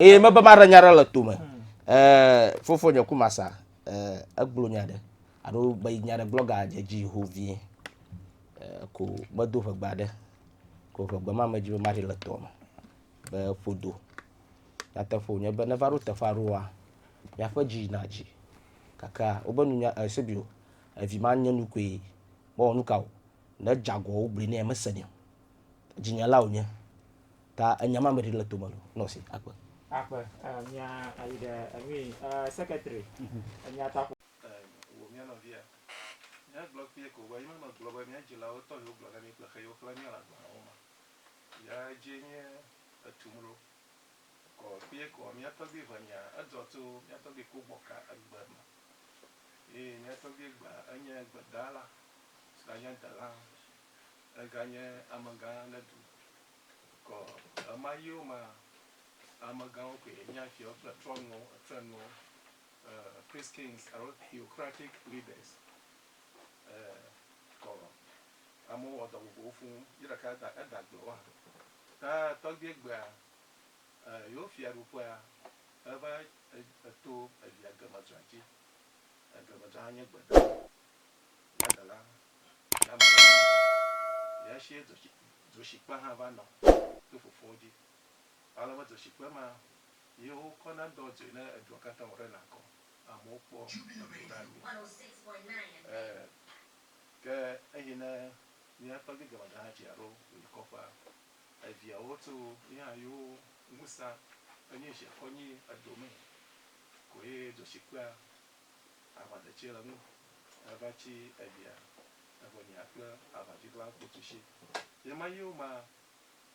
Eye mebe maɖe nya ɖe le tome. Eh, fofo nye kumasa, eh, eglo nya ɖe. Ado be nya ɖe blogger dje dji ho vie. Eh, ko medo ƒegbe aɖe. Ko ƒegbe ma me dji be maɖe le tome. Be ƒodo. Nyateƒe wonye be neva ɖo teƒe aɖewoa, miaƒe dji yina dji. Gakea, wobe nunya, eh, sebio, evi ma nye nu koe. Mewɔ nukao? Ne edje agɔ wobli nɛ, mesenɛ o. Djinyala wonye. Ta enya ma meɖi le tome ɖo. Nɔ si akpe. Akpe. Mia ayi ɖe enui. Secretary. Enya ta ƒo. Wò mía nɔvia. Mía gblɔ kpie ko be yime me gblɔ be mía dzilawo tɔ yewo gblɔ na mí kple xe yewo xlẽ mía le agbalẽwo me. Ya dzie nye etum ɖo. Kɔ kpie koa mía tɔgbui ʋe nya edzɔ to mía tɔgbui ku gbɔ ka egbe me. Eye mía tɔgbui egbea enye gbedala si ga nye delã. Ega nye amegã ne du. Kɔ ɣemaɣiwo mea, amegãwo koe nye fiawo kple trɔnuwo, trenɔwo, priest kings alo theocratic leaders. Kɔ amewo wɔ dɔ vovovowo fũ ye ɖeka ta eda agble wo hã. Ta tɔgbuiɛ gbea, yewo fiaɖuƒea eva to via gemedzra dzi. Gemedzra nye gbe ɖa. Dadala dama ɖe mía ŋu. Eya sie dzotsi, dzoshikpe hã va nɔ to fofowo dzi. Ale be dzoshikpe ma ye wokɔ na dɔ dzoe ne edua katã wɔ ɖe nakɔ. Amewo kpɔ eŋu na mi. E, ke eyi ne mía tɔgbi Gavada hã tsi alo wòyi kɔƒea, eviawo to ye hã yewo ŋusã enye zi akɔ nyi edo me koe dzoshikpea aʋadetsi le ŋu eva tsi evia evo nya kple aʋadziglã kpotsitsi yema yiwo ma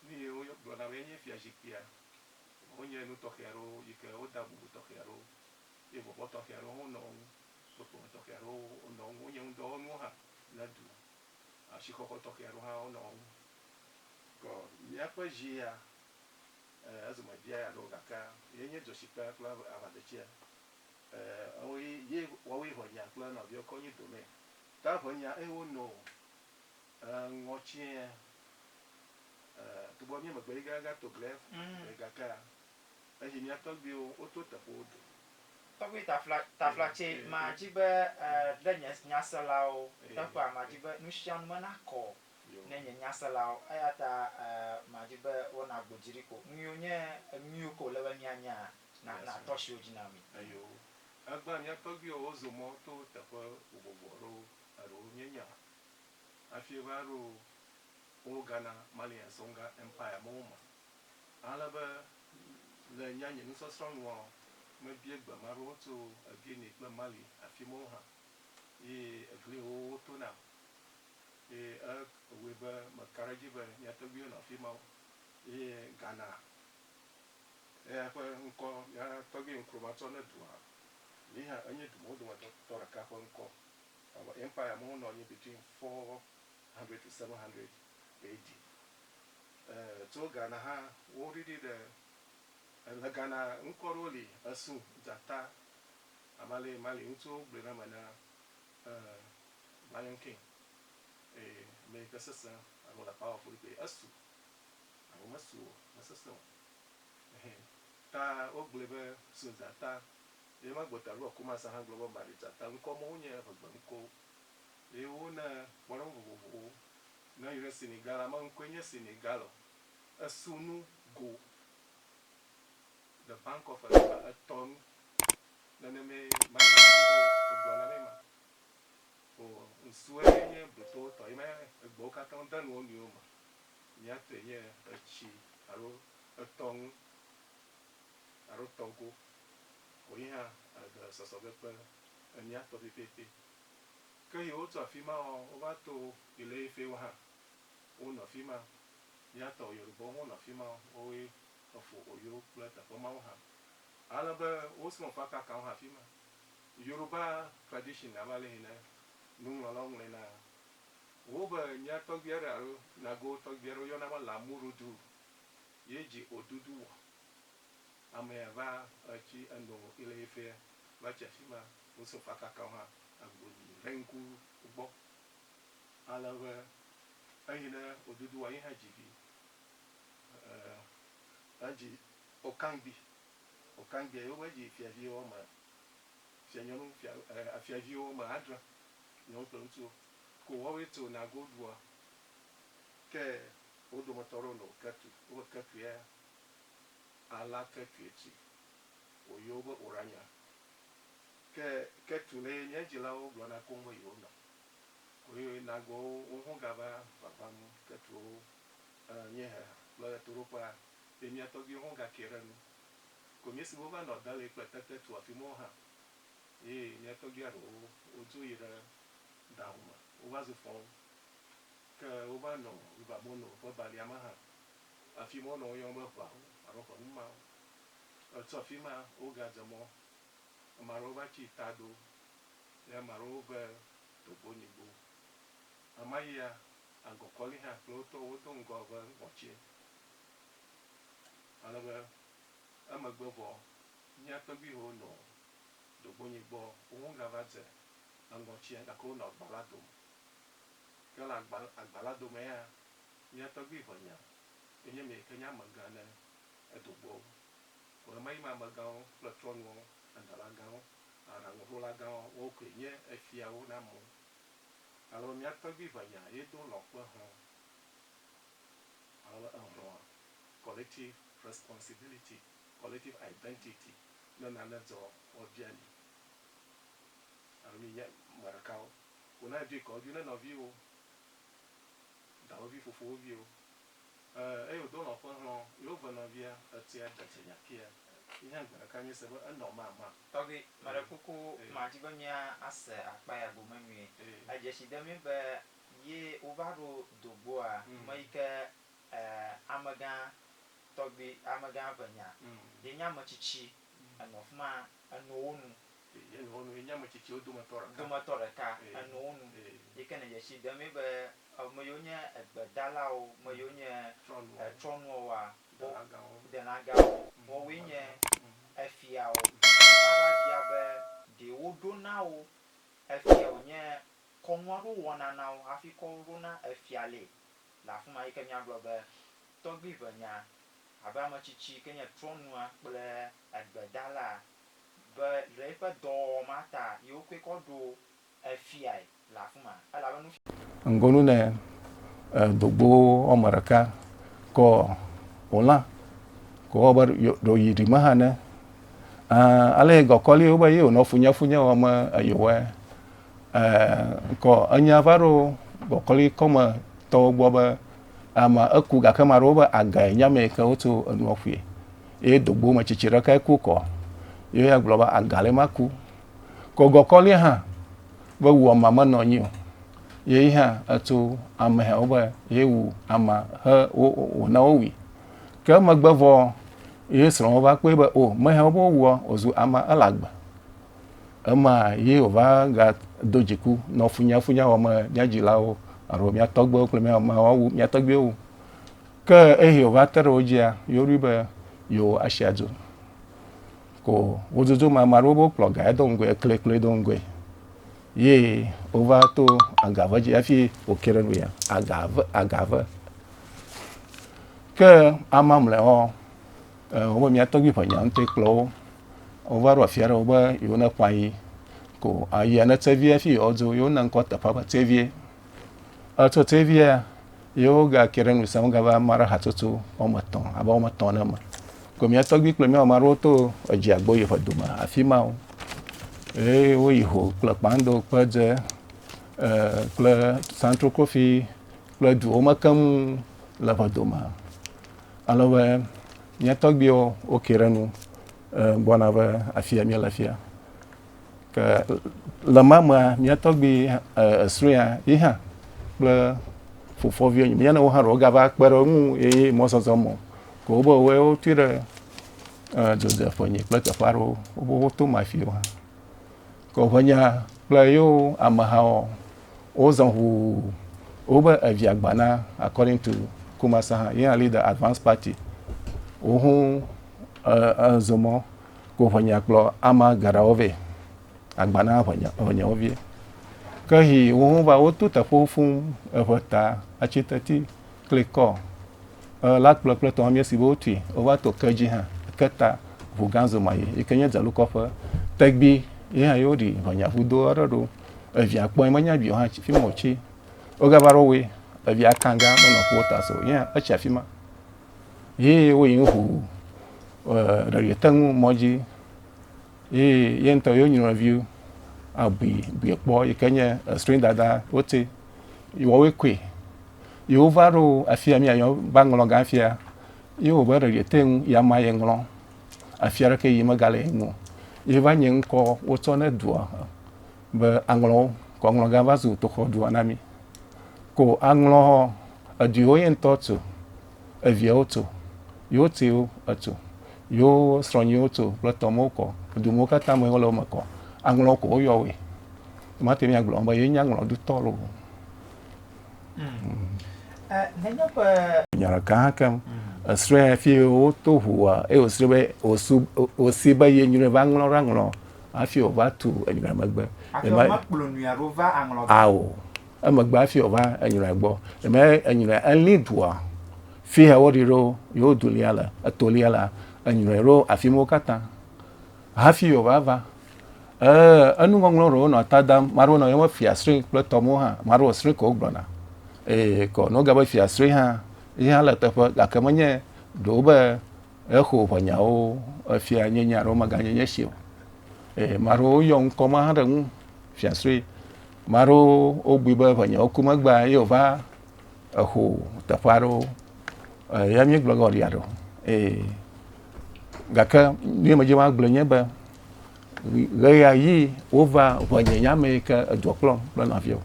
nu yiwo gblɔna be enye fia zikpuia wonye nu tɔxɛ aɖewo yike woda bubu tɔxɛ aɖewo ye bɔbɔ tɔxɛ aɖewo hã wonɔ eŋu kpekpeme tɔxɛ aɖewo wonɔ eŋu wonye ŋudɔwɔnuwo hã ne du asixɔxɔ tɔxɛ aɖewo hã wonɔ eŋu kɔ miaƒe zi ya e ezome bia ya ɖo gakea yenye dzɔtsikpea kple aʋadetsia. E, ewo yi yi wɔwo yi hɔnya kple nɔviɔ kɔ nyi domɛ. Ta ŋɛnya ewo no o. E, ŋɔ tsiɛ. E, togbɔ mí megbe yi ga ga to glɛ e gakea, eyi mía tɔgbiwo wo to teƒewo do. Tɔgbi tafla tafla tsɛ ma dzi be e ɖe nye nyaselawo teƒea ma dzi be nushanu me na kɔ ne nye nyaselawo. Eya ta e ma dzi be wo na gbo dzi ɖi ko. Ŋuiwo nye eŋuiwo ke wo le be mía nya. Eyo. Egbea mía tɔgbuiwo wozo mɔ to teƒe vovovo aɖewo, eɖewo míenya hafi va ɖo Old Ghana, Mali and Songa Empire mɔwo me. Ale be le nye anyi nusɔsrɔ̃ nua, mebia gbe ame aɖewo tso Guinea kple Mali afi mɔwo hã eye egli yi wowo to nam eye ewɔe be meka ɖe edzi be mía tɔgbuiwo nɔ afi ma. Eye Ghana Eya ƒe ŋkɔ gã tɔgbi ŋklo matsɔ ne dua. Yi hã enye du mawo dometɔ tɔ ɖeka ƒe ŋkɔ. Ewɔ empire mawo nɔ anyi between four hundred to seven hundred AD. E tso Ghana hã wo ɖiɖi ɖe e le Ghana ŋkɔ ɖewo li esu, dzata, amale mali ŋutsuwo gblɔe ɖe eme na e lion king eye ame yike sese alo le powerful kpli esu Abe mesi wɔ, mesesẽ o. Ɛhɛ. Ta wogblɔe be Susa ta. Ye ma gbɔtɔ alo Akumasa hã gblɔ be Maritsa ta. Ŋkɔ mawo nye eƒe gbeŋkɔwo. Eye wona kpɔɖeŋu vovovowo ne yɔ ɖe Senegal la. Meŋkɔe nye Senegal o. Esu nu go the bank of Enufa etɔ nu. Nenemee Maritsawo egblɔ na mi ma. O ŋsue nye Britɔwo tɔ. Ye ma egbewo katã de nu wo nɔewo me. Míate nye etsi alo etɔ ŋu alo tɔ go ko yi hã ade sɔsɔ be kpe emía tɔ pɛpɛpɛ. Ke yi wotso afi ma ɔ, wova to Ileiƒewo hã, wonɔ fi ma. Mía tɔ Yorubɔwo hã wonɔ fi ma, wowoe Efo Oyo kple teƒe mawo hã. Ale be wosrɔ̃ fakakawo hã afi ma. Yoruba tradition abe ale yi ne nuŋlɔlawo ŋlɔe na Wo be mia tɔgbi aɖe alo nago tɔgbi aɖe woyɔna be Lamurudu ye dzi Odudu wɔ. Amea va etsi eno yile ye fea va tsi afima wo so fa kaka wo hã agbo nyi ɖe ŋku gbɔ. Ale be eyi ɖe Odudu wɔ ye hã dzi vi. Edzi Okangbi. Okangbia ye wo va dzi fiavi woame Fia nyɔnu fia e fiaviwo wɔme adre, nyɔnu kple ŋutsuwo ko woawoe to na goldua. Ke wo dometɔ aɖewo nɔ Ketu, wobe Ketuea ala Ketue tsi woyɔ wo be Oranya. Ke Ketu ne ye nye dzilawo gblɔ na koŋ be yewo nɔ ko ye nagɔ wo woho gava ʋaʋã nu Ketuwo e nye he kple ɣetoɖoƒea ye mia tɔgbiwo ho ga ke ɖe nu Konyi siwo va nɔ Dali kple Tete tu afi mɔwo hã, eye mía tɔgbui aɖewo wodzo yi ɖe Dahomey. Wova zu fɔwo, ke wova nɔ River Mono ƒe balia me hã, afi mɔwo nɔ woyɔm be ʋeawo alo ƒe numawo. Tso afi ma wogadze mɔ, ame aɖewo va tsi Tado, eye ame aɖewo ve Togbonyigbo. Ɣemaɣia, Angokɔli hã kple wo tɔwo do ŋgɔ ve Ŋɔtsie. Ale be emegbe vɔ mía tɔgbuiwo nɔ ɖogbonye gbɔ, wohɔ̃ gava dze eŋgɔ tsia gake wonɔ agba la dome. Ke le agba, agba la domea, mía tɔgbui ʋenya ye nye meyike nye amegã ne edo gbɔ wo. Ko ɣemaɣi me amegãwo kple trɔ̃nuwo, adala gãwo, aɖaŋuɖola gãwo, woawo koe nye efiawo na amewo. Ale be mía tɔgbui ʋenya ye do lɔ̃ kple hɔ̃ Alɔ̃ ehlɔ̃a, collective responsibility, collective identity, ne nane dzɔ woabia mi alo mi nye ame ɖekawo ko na edzoe kɔ edzoe ne nɔviwo, dawòvi, fofowò viwo eh eye wòdo lɔ̃ ƒe hlɔ̃ ye wòve nɔvia etsɔe de dze nya kia yi hã gbe ɖeka míese be enɔ mama. Tɔgbi, meɖe kuku ma di be mía ase akpa ya gome nyuie. Edze si de mí be Ye wova ɖo do gbɔa me yi ke amegã tɔgbi, amegã ʋe nya, ye nye ametsitsi enɔ fima eno wo nu. Ye nɔ wo nu, ye nye ametsitsi wo dometɔ ɖeka. Dometɔ ɖeka eno wo nu. Ye ke ne dzetsi ɖem ye be ame yewo nye egbe dalawo, ame yewo nye etrɔ nua woa, dela gawo, woa woe nye efiawo. Ava bia be ɖe wo ɖo na wo efia wo nye Kɔnu aɖewo wɔna na wo hafi kɔ wo ɖo na efia lee le afi ma yi ke míagblɔ be tɔgbiʋenya abe ame tsitsi yi ke nye trɔ̃nua kple egbedalaa be le eƒe dɔwɔwɔ ma ta ye wokɔe kɔ ɖo efiae le afi ma elabe nufiala. Ŋgonu ne dogbo woame ɖeka kɔ wò lã ko wɔ be ɖo yi ɖime hã ne, ãa, ale ye gɔkɔli wo be ye wònɔ funyefunye wɔm eye wòwɔe. ŋkɔ enya va ɖo gbɔkɔlikɔme tɔwo gbɔ be ama eku gake ma ɖewo be agae nya me ke wotu enua ƒui ye dogbo me tsitsi ɖeka ku kɔ ye ya gblɔ be aga le ma ku kɔ gɔkɔli hã be wu ama me nɔ nyi o ye hã etu ame hã be ye wu ama he wo wo na wo wi ke megbe vɔ ye srɔ̃ va kpɔe be o me hã wo be wo wu o zu ama elagbe Ema ye wòva gado dziku nɔ funyafunya wɔm mía dzilawo alo mía tɔgbuiwo kple mía mawo wu mía tɔgbuiwo wu. Ke eyi wòva te ɖe wo dzia, yewoɖoe be yewo asi adu. Ko wododo me ame aɖewo be wokplɔ ga ya do ŋgɔe, ekli kplɔe do ŋgɔe. Ye wova to agave dzi hafi wòke ɖe nu ya. Agave, agave. Ke amamleawo Wobe mía tɔgbui ƒe nya ŋutɔe kplɔ wo. Wova ɖo afia ɖe wobe yewo ne ƒã yi ko ayia ne tsevia fi yewo dzo yewo na ŋkɔ teƒea be tsevia. Etso tsevia yewo ga ke ɖe nusa ŋu gava ma ɖe hatsotso wɔme etɔ̃ abe wɔme etɔ̃ ne me. Ko mía tɔgbui kple mía ma ɖewo to edzi agbo yi ƒe dome afi ma wo. Eye woyi ho kple kpando kple dze kple santrokofi kple duwo me keŋ le ƒe dome. Ale be mía tɔgbuiwo woke ɖe enu gbɔna va afi ya míele fia. Ke le ma mea, mía tɔgbui esrɔ̃a yi hã kple fofoviwo nye míanewo hã ɖewo gava kpe ɖe eŋu eye mɔzɔzɔ mɔ. Ke wobe woe wotui ɖe dzodzeƒe nyi kple teƒe aɖewo wobe woto ma afiwo hã. Ke woƒe nya kple yewo amehawo wozɔ ʋuu. Wobe evia gba na according to Kumasa hã ye hã lead the advance party. Woho ezo mɔ ko ʋe nya kplɔ ama geɖewo vɛ. Agba na ʋe nya ʋe nyawo vie. Ke hi woho va woto teƒewo fuu eʋe ta atsi teti. klikɔ e la kplɔ kple tɔhɔmia si be wotui wova to ke dzi hã ke ta ʋu gã zoma yi yi ke nye dzalukɔƒe tegbi ye hã yewo ɖi ʋɔnya ʋu do aɖe ɖo evia kpɔe menya bio hã fi ma wotsi wogava ɖo woe evia kan gã menɔ ƒuwo ta so ye hã etsi afi ma ye woyi ŋu ʋu e ɖeɖi te ŋu mɔ dzi Ye yeŋtɔ yo nyɔnɔnviwo abui bui kpɔ yi ke nye esrɔ̃ dada wote wɔwoe koe. Ye wova ɖo afia mi ayɔ ba ŋlɔ gan afia ye wo be ɖeɖi te ŋu ya ma ye ŋlɔ afia ɖe ke yi mega le ŋu. Ye va nye ŋkɔ wotsɔ ne dua be aŋlɔ kɔ ŋlɔ gan va zu toxɔ dua na mi. Ko aŋlɔ hɔ edui wo yeŋtɔ tu. eviɛ wo to, yewo tsiwo eto, yewo srɔ̃ nyiwo to kple tɔ mɔwo kɔ, edu mɔwo katã me wole wo me kɔ. Aŋlɔwo ko woyɔ woe. Mate ŋu agblɔ be yewo nye aŋlɔ ɖutɔ loo. Nya ɖeka hã keŋ, esrɔ̃e hafi wo to ŋua eye wosrɔ̃ be wosu wosi be ye nyrɔe va aŋlɔ ɖe aŋlɔ hafi wova tu enyrɔe megbe. Hafi wova kplɔ nyrɔe ɖo va aŋlɔ ɖe. Ao. Emegbe afi wòva enyrɔe gbɔ, eme enyrɔe elĩ dua, fi he woɖi ɖo yewo du lia le, etolia la, enyrɔe ɖo afi mɔ katã. Hafi wòva va, e, enu ŋɔŋlɔ ɖewo nɔ ta dam, maɖewo nɔ yɔm be fiasri kple tɔmɔ hã, maɖewo sri ko wogblɔna. Eye kɔ nɔ ga be fiasri hã, yi hã le teƒe, gake menye ɖewo be exo ʋe nyawo efia nye nya ɖewo meganye nye si o. Eye maɖewo yɔ ŋkɔ ma hã ɖe ŋu, fiasri. Ame aɖewo wobui be ŋɔnye woku megbea ye wova exo teƒe aɖewo eya míegblɔ ge wòlia ɖo eye gake ne medze maa gblɔ nye be ɣeya ɣi wova ŋɔnye nya me yi ke edua kplɔm kple nɔviwo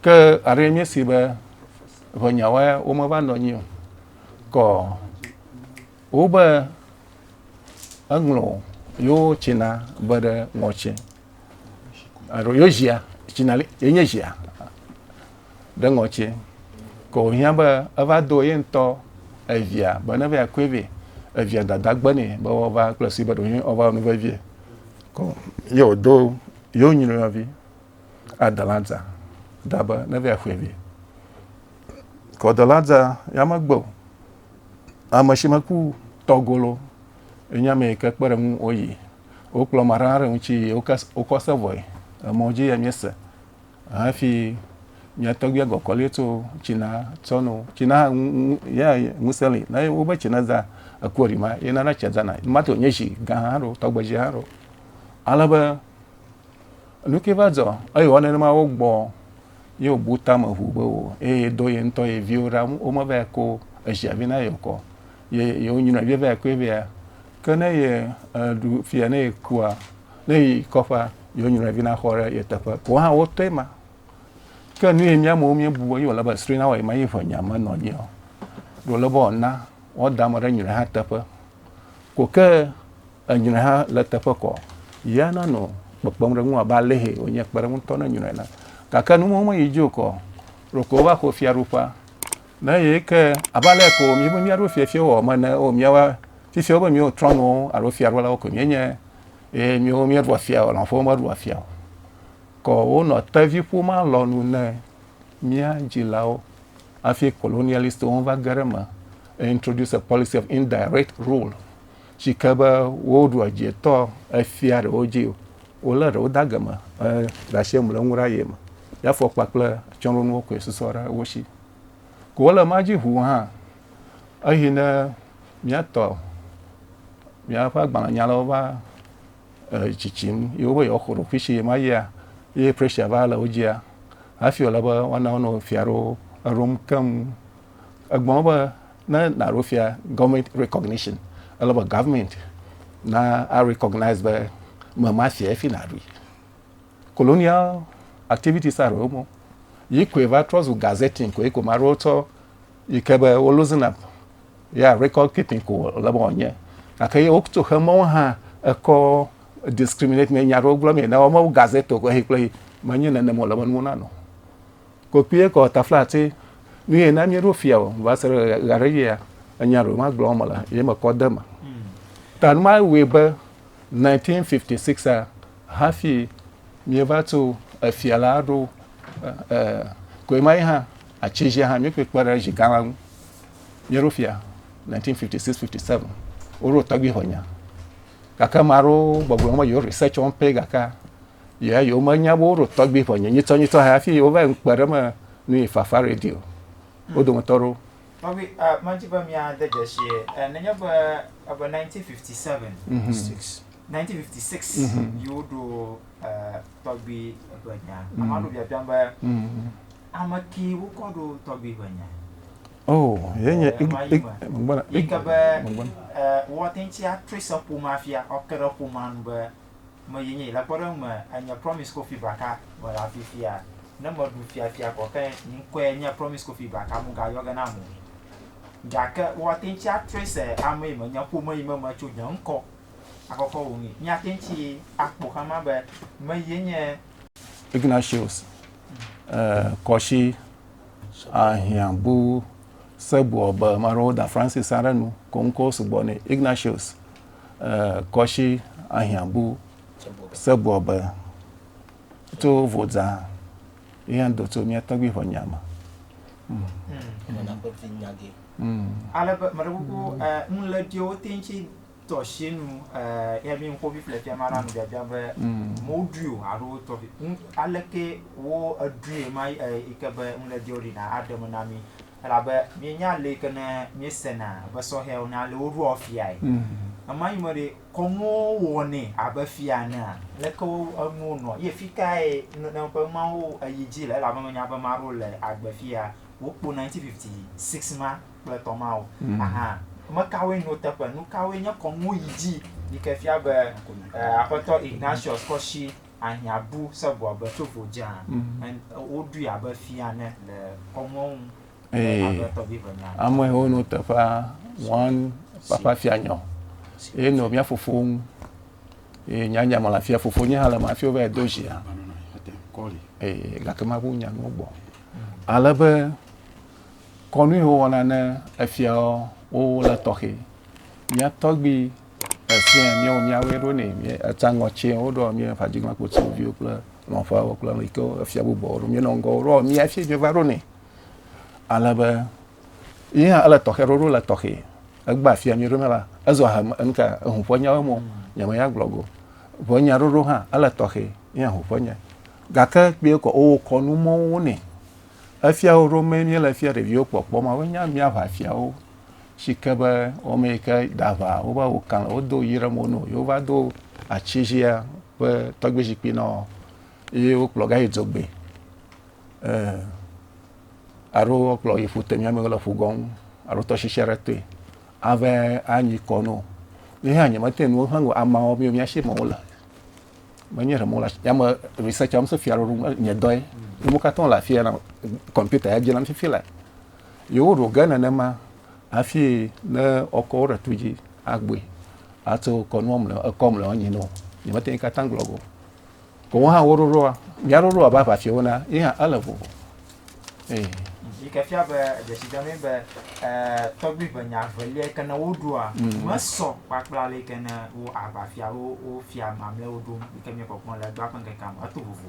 ke aɖe míesi be ŋɔnyawoe womeva nɔ anyi o kɔ wobe eŋlɔ yewo tsina be ɖe ŋɔtsi. alo yo zia tsina li ye nye zia ɖe ŋɔtsi ke wòhiã be eva do ye ŋutɔ evia be ne va yakɔe vɛ evia dada gbe nɛ be woava kple si be ɖewohĩ woava nu vevie ko ye wòdo yewo nyinɔyɔvi adalanta da be ne va yakɔe vɛ ko adalanta ya megbe o ame si meku tɔgolo enye ame yi ke kpe ɖe ŋu woyi wokplɔ ame aɖe ɖe ŋuti yi wokɔ se vɔe emɔ dzi ya miese hafi mia tɔgbuia gɔkɔli tso tsina tsɔ no tsina ya ŋusẽ li na wobe tsina zã ekua ɖi ma ye nana tsia zana ma to nye zi gã hã ɖo tɔgbe zi hã ɖo ale be nuke va dzɔ eye wɔ nenema wo gbɔ ye wobu tame ʋu be wo eye do ye ŋutɔ ye viwo ɖa womeva ko ezia vi na yokɔ ye yewonyrɔ ɖe vɛ koe vɛa ke ne ye eɖu fia ne yekua ne yi kɔƒea yewonyrɔ vi na xɔ ɖe ye teƒe ko hã wotɔe ma ke nu ye míamewo míebu be yewole be sri na wɔ ye ma ye ʋe nya me nɔ nyia ɖo le be wɔna wɔda ame ɖe nyrɔ hã teƒe ko ke enyrɔ hã le teƒe kɔ ya nanɔ kpekpem ɖe ŋu abe alehe wonye kpe ɖe ŋutɔ ne nyrɔ na gake nu mɔwo me yi dzi o kɔ ɖoko wova xɔ fiaɖuƒea Ne ye ke abe ale ko mi be miaɖo fiafia wɔ me ne o miawa fifia be miwo trɔnuwo alo fiaɖolawo ko mienye eye miwo mieɖua fia o lɔ̃ƒowo meɖua fia o kɔ wonɔ tevi ƒoma lɔ nu ne mia dzilawo hafi colonialistwo va ge ɖe me introduce a policy of indirect rule si ke be woɖua dzietɔ efia ɖewo dzi o wolé ɖewo da geme ɖe asi mu le ŋu ɖe aye me ya fɔ kpakple atsyɔ̃ɖonuwo koe susɔ ɖe wo si Ko wole ema dzi ʋuu hã, eyi ne míatɔ míaƒe agbalẽnyalawo va e, tsitsim ye wobe yewoaxɔ ɖokuishi shi ema yia, ye pressure va le wo dzia, hafi wòle be woana wo nɔ fia ɖewo eɖom keŋ. Egblɔ be ne nàɖo fia gɔvmɛnt rekɔgnishin, ele be gɔvmɛnt na arekɔgnaiz be mema fia ye fi nàɖoe. Colonial activities are wo mo. Yi koe va trɔ zu gazetting koe ko maɖewo tsɔ yi ke be wo losing up ya record keeping ko le be wònye. Gake ye wotso xe mɔwo hã ekɔ discriminate me nya ɖewo gblɔ me na wo mewu gazette ko ehi kple yi menye nenem wòle be nuwo nanɔ. Kokui kɔ tafla ati nu ye na míeɖo fia o va se ɖe ɣe aɖe yia enya ɖewo magblɔ wo mele ye mekɔ de eme. Ta nu ma wɔe be 1956 hafi míeva tu efia la ɖo koe ma yi hã atsi dzi hã míƒoe kpe ɖe zi gã la ŋu míeɖo fia 1956 57 woɖo tɔgbi hɔnya gake ame aɖewo gbɔgblɔ wɔm yewo research wɔm pɛ gake yɛ yewo menya be woɖo tɔgbi hɔnya nyitɔ nyitɔ hafi wova ŋkpe ɖe me nu yi fafa radio wo dometɔ ɖewo Nɔvi, uh, medi be miade dzesie. Uh, nenye be ebe 1957, mm -hmm. 1956 mm -hmm. yiwo ɖo uh, tɔgbi ebe nya. Mm -hmm. Ame aɖewo biabiam be mm -hmm. ame ki wokɔ ɖo tɔgbi ebe nya. Oh, ye nye gbɔna. Yi ke be uh, wɔte ŋuti atrese ƒomea fia, ɔke ɖe ƒomea nu be me ye nye yi. Le kpɔɖeŋu me, enye Promise Kofi Baka mele afi fia. Ne meɖu fiafia kɔ ke nye ŋkɔe nye Promise Kofi Baka mugayɔ ge nam o. Gake woate ŋu atrɔe se ame yi menye, ƒome yi me metso, nye ŋkɔ akɔkɔ wò ŋui. Míate ŋu akpɔ xexeame be me ye nye. Ignatius Kɔshi ahiã bu Serbwɔ be ame aɖewo da Francis aɖe nu ko ŋkɔwo sugbɔ nɛ. Ignatius. kɔshi ahiãbu sɛbuɔ be, Tso vodza yehɛn do tso miɛ tɔgbi ƒe nya me. Ale be meɖe kuku nu le ɖi wo teŋ tsi tɔshi nu yɛ mi ŋkɔvi ƒle fia ma ɖa nu biabia be mo ɖui o alo wo tɔvi aleke wo eɖui ma yi ke be nu le ɖi wo ɖi na aɖe me na mi. elabe míenya ale yi ke ne míesena be sɔhɛwo ne ale woɖoa fiae. Ema nyi me ɖe kɔnuwo wɔnɛ abe fia enea? Leke wo enuwo nɔ ye fi kae ne ƒe mawo eyi dzi le elabe menya be ame aɖewo le agbe fia wokpo 1956 ma kple etɔ̃ mawo hã. Ame kawoe nɔ teƒe? Nu kawoe nye kɔnuwo yi dzi yi ke fia be Aƒetɔ Ignatius kɔ si ahiã bu Saul be tovo dzea, woɖui abe fia ene le kɔnuawo ŋu. Amewo no teƒea wɔn papa fia nyɔ ye nɔ mía fofo ŋu ye nya nya mala fia fofo nye hã le ma fio be do zia eye gake ma ŋu nya nuwo gbɔ ale be kɔnu yi wowɔna ne efiawo wo le tɔxɛ mía tɔgbi Efiẽ míawo míawoe ɖo nɛ. Mí etsã ŋɔ tsɛ woɖɔ mí eƒe adzigbãkpotsiwo viwo kple lɔ̃ƒeawo kple nu yi ke efia bubuawo ɖo. Míenɔ ŋgɔ wo ɖo mí hafi míeva ɖo nɛ. Ale be ye hã ele tɔxɛ ɖoɖo le tɔxɛ. Egbea fia mí ɖo mí la ezɔ ha me enu ka eŋu ƒe nyawo me o nye me ya gblɔ go ƒe nya ɖoɖo hã ele tɔxɛ ye hã eŋu ƒe nya. Gake kpuie kɔ wowɔ kɔnu mɔwo nɛ. Efia wo ɖo mí míele fia ɖeviwo kpɔkpɔ ma woe nya mía ƒe afiawo. si ke be wɔme yi ke da va wo va wo kan wodo yi ɖe mo no yewova do atsi zia ƒe tɔgbi zikpui nɔ ye wokplɔ ga yi dzogbe alo wokplɔ yi ƒute miame le ƒu gɔm alo tɔsisi aɖe toe ave anyi kɔ no ye hã nyemete nuwo hã go amawo mi mi asi mo le menye ɖe mo le yame research am se fia ɖo nye dɔe mo katã le afia na computer ya dzi nam fifi le Ye woɖo ge nenema hafi ne wokɔ wo ɖe tu dzi agbɔe ato kɔnua mlɔ ekɔ mlɔ anyi nɔ nyemete ŋu katã gblɔ go. Ko wo hã wo ɖoɖoa mía ɖoɖoa be aʋafiawo na ye hã ele vovo. Ee. Yi ke fia be dzesi dem be e, tɔgbui ƒe nya velia yi ke ne woɖoa mm. mesɔ kpakple ale yi ke ne wo aʋafiawo wo fia mamlɛwo ɖom yi ke míekpɔkpɔ le egbea ƒe ŋkekea me eto vovo.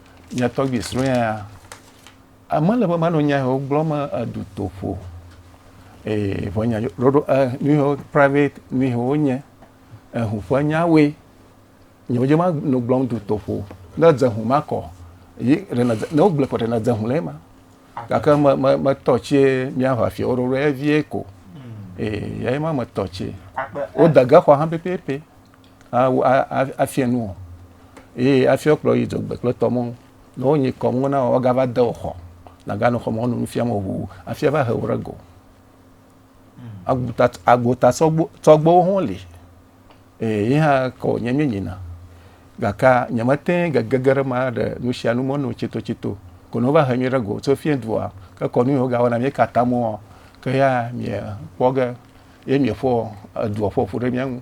nye tɔgbi srɔ̃a ame le be manɔ nya yewo gblɔm edu toƒo ee vɔ nya ɖoɖo e nu yewo private nu yewo nye ehu ƒe nyawoe nye wodze ma nɔ gblɔm du toƒo ne dze hu ma kɔ yi ɖena dze ne wogblɔ kɔ ɖena dze hu le ema gake me me me tɔ tsi miaʋa fia wo ɖoɖo evie ko ee yɛ ma me tɔ tsi wodege xɔ hã pɛpɛpɛ. afiɛ nuɔ eye afiɛ kplɔ yi dzogbe kple tɔmɔ ne wonyi kɔmɔ na wa gava de oxɔ naganɔ xɔmɔ wonu nufia mɔ ʋu afiɛ va he wo ɖe go aguta agota tsɔgbewo hɔn li eye yi hã kɔ nye mi nyina gaka nye mete gege ge ɖe ma ɖe nusia nu mɔ no tsito tsito ko no va he mi ɖe go tso fiɛ dua ke kɔ nu yi wo gawa na mi kata mɔ ke ya mi kpɔ ge ye mi ƒo edua ƒoƒu ɖe mi ŋu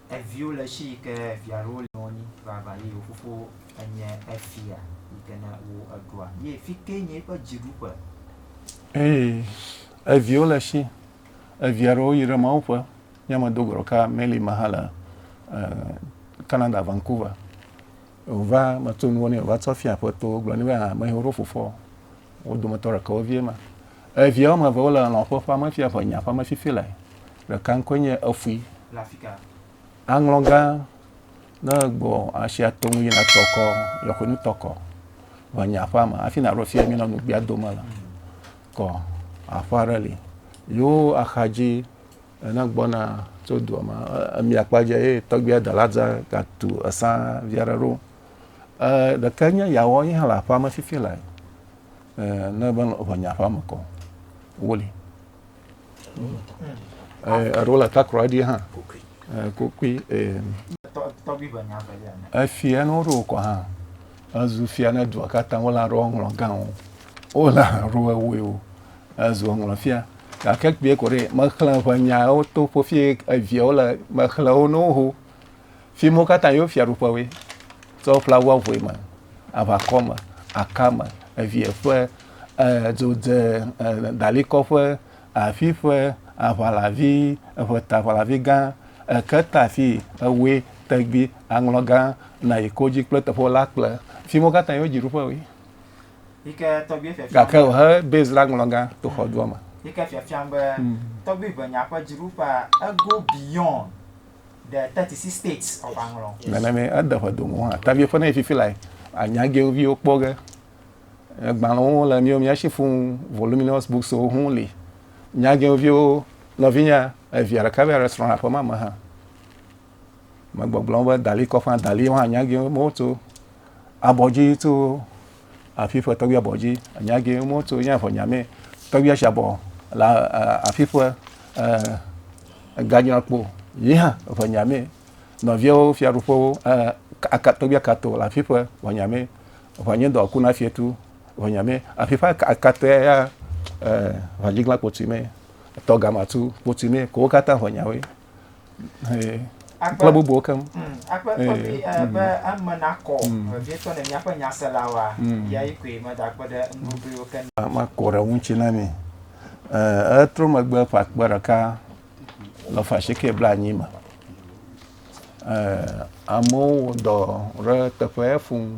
Eviwo le shi yike via ɖewo le nɔnyi vava ye yewo fofo enye efia yike ne wo eɖua ye fike nye yiƒe dziɖuƒe. Eye eviwo le shi evia ɖewo yi ɖe Mawu ƒe nye me do gɔɖɔ ka Melly ma hã le Canada Vancouver o va me to nuwo ne o va tsɔ fia ƒe to gblɔ ni be ha me hewo ɖo fofoa o wo dometɔ ɖeke wo vie ma evia wo me eve wo le lɔƒe ƒe ame fia ƒe nya ƒe ame fifi le Ɖeka ŋkɔe nye Efui. Le afika. Aŋlɔ gã ne gbɔ asia to ŋu yina tɔkɔ, yɔxɔe nu tɔkɔ. Vɔ nye aƒa me, afi na ɖo fia mi nɔ nugbia dome le. Kɔ aƒa ɖe li. Yo axadzi ena gbɔna tso dua me. Emi akpa dze ye tɔgbia dala dza ga tu esa via ɖe ɖo. E ɖeka nye yawɔ yi hã le aƒa me fifi le. E ne be vɔ nye aƒa me kɔ. Woli. eɖewo le takra dzi hã kokui efia ne woɖo kɔ hã ezu fia ne dua katã wole aɖo ŋlɔ gãwo wole aɖo ewoe o ezu ŋlɔ fia gake kpee ko ɖe mexlẽ ƒe nyawo to ƒofie eviawo le mexlẽ wo ne woho Fi mo katã yewo fiaɖuƒewoe. Tsɔ ƒla wu avɔe me, aʋakɔ me, aka me, evie ƒe, dzodze, dalikɔ ƒe, afi ƒe, aʋalavi, eʋeta aʋalavi gã, eketa fi, ewoe, tegbi, aŋlɔ gã, nayi kodzi kple teƒewo la kple. Fi mo katã yewo dziɖuƒewoe. Gake wòhe Bezra ŋlɔ gã to xɔdua me. the 36 states of Anglɔ. Nana mi ede ƒe domo hã. Tavi ƒe ne fifi la anya ge viwo kpɔ ge. Gbalẽwo le miwo mia shi fún voluminous books wo hún li. Nya ge viwo nɔvinya evia ɖeka be restaurant aƒe ma me hã. Megbɔgblɔ be dali kɔƒe dali hã nya ge mo to abɔdzi to afi ƒe tɔgbuia bɔ dzi nya ge mo to nya fɔ nya me tɔgbuia sha bɔ la afi ƒe ganya kpo yi ha fɔ nya me no viawo fia ru fo aka tɔgbuia ka to la afi ƒe fɔ nya me fɔ nye dɔ ku na fie tu fɔ nya me afi ƒe aka te ya fɔ dzi gla kpo tu me tɔ gama tu kpo tu me ko kata fɔ nya we kple bubuwo keŋ. Mm, akpe eh, kɔfi eh, eh, be mm. eme nakɔ mm. vevietɔ ne míaƒe nyaselawoa ya yi koe medakpe ɖe nugogoewo ke. Makɔ ɖe ŋuti na mi. Etrɔ megbe ƒe akpe ɖeka le fashike bla anyi me. Amewo wɔ dɔ ɖe teƒe fuu.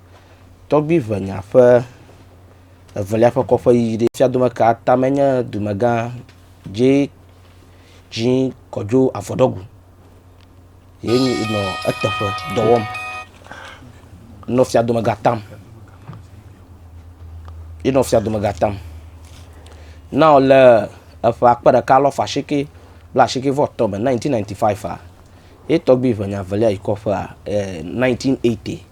Tɔgbuiʋenya ƒe evelia ƒe kɔƒe yiyi ɖe fia dome ka tame nye dumegã dzi dzi kɔdzo avɔɖɔgu ye nyi nɔ eteƒe dɔ wɔm nɔ fia domega tam ye nɔ fia domega tam. Na wo le eƒe akpe ɖeka alɔfa asike blaasike vɔ etɔ̃ me nineteen ninety five ye tɔgbuiʋenya velia yi kɔƒea e nineteen eighty.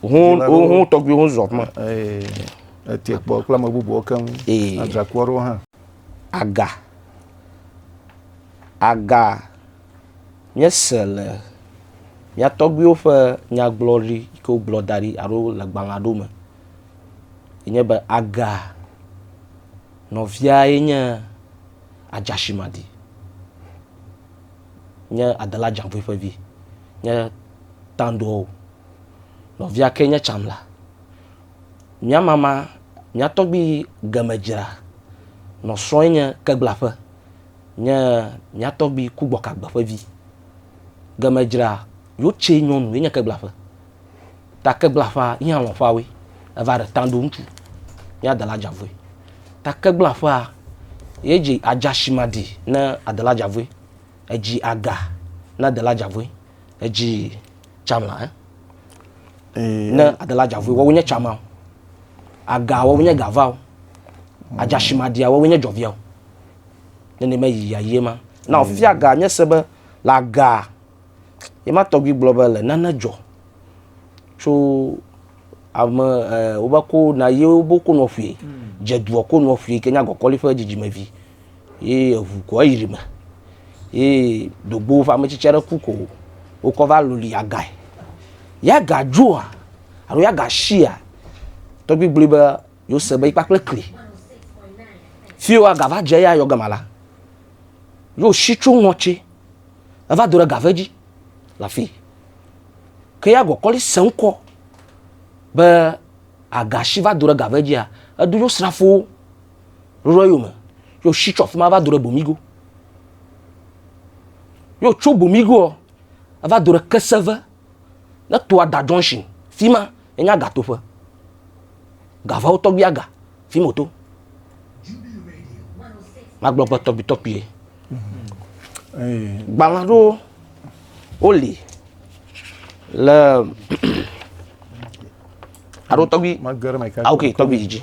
Hun hun hun tɔgbi hun zɔ kuma. Ee etie kpɔ kple ame bubuwo keŋ. Ee adzraku aɖewo hã. Aga aga nye se le mía tɔgbiwo ƒe nyagblɔɖi yi ke wogblɔ da ɖi alo le gbalẽ aɖewo me yi nye be aga nɔvia ye nye adzashimadi nye adela dzaŋgoe ƒe vi nye tandɔwo. Nɔvia ke nye tsam la. Mía mama, mía tɔgbi gemedzra nɔ srɔ̃e nye keglaƒe, nye mía tɔgbi kugbɔkagbe ƒe vi. Gemedzra yotse nyɔnu ye nye keglaƒe. Ta keglaƒea yihã lɔ̃ ƒawoe. Eva ɖe tã ɖo ŋutsu. Mía dela dza vɔe. Ta keglaƒea ye dzi adza shi ma ɖi ne adela dza vɔe. Edzi aga ne adela dza vɔe. Edzi. Tsamla ɛ. Eh. Ne adela dzavui wɔwo nye tsama o. Aga wɔwo nye gava o. Adzashimadia wɔwo nye dzɔvia o. Nene me yi ya yie ma. Na ofia ga nye se be le aga ye ma tɔgbi gblɔ be le nane dzɔ tso ame eh, wobe ko na ye wobe ko nɔ ƒui. Dze duɔ ko nɔ ƒui ke nya gɔkɔli ƒe dzidzimevi. Ye eŋu ko eyri me ye dogbo woƒe ametsitsi aɖe ku ko wokɔ va loli agae. Ye aga dzoa alo ye aga shia tɔgbi gblɔe be yewose be yi kpakple kli. Fi wo aga va dze eya yɔ gama la, yewo shi tso ŋɔtsi eva do ɖe gave dzi le afi. Ke ya gɔkɔli se ŋkɔ be aga shi va do ɖe gave dzia eɖo yewo srafowo ɖoɖo eyo me yo shi tsɔ fima va do ɖe bomigo yo tso bomigo va do ɖe keseve ne to ada junction fima enya gatoƒe gavawo tɔgbi aga fima oto magblɔ gbe tɔgbi tɔgbi ye gbalã ɖo woli le alo tɔgbi ah, ok tɔgbi didi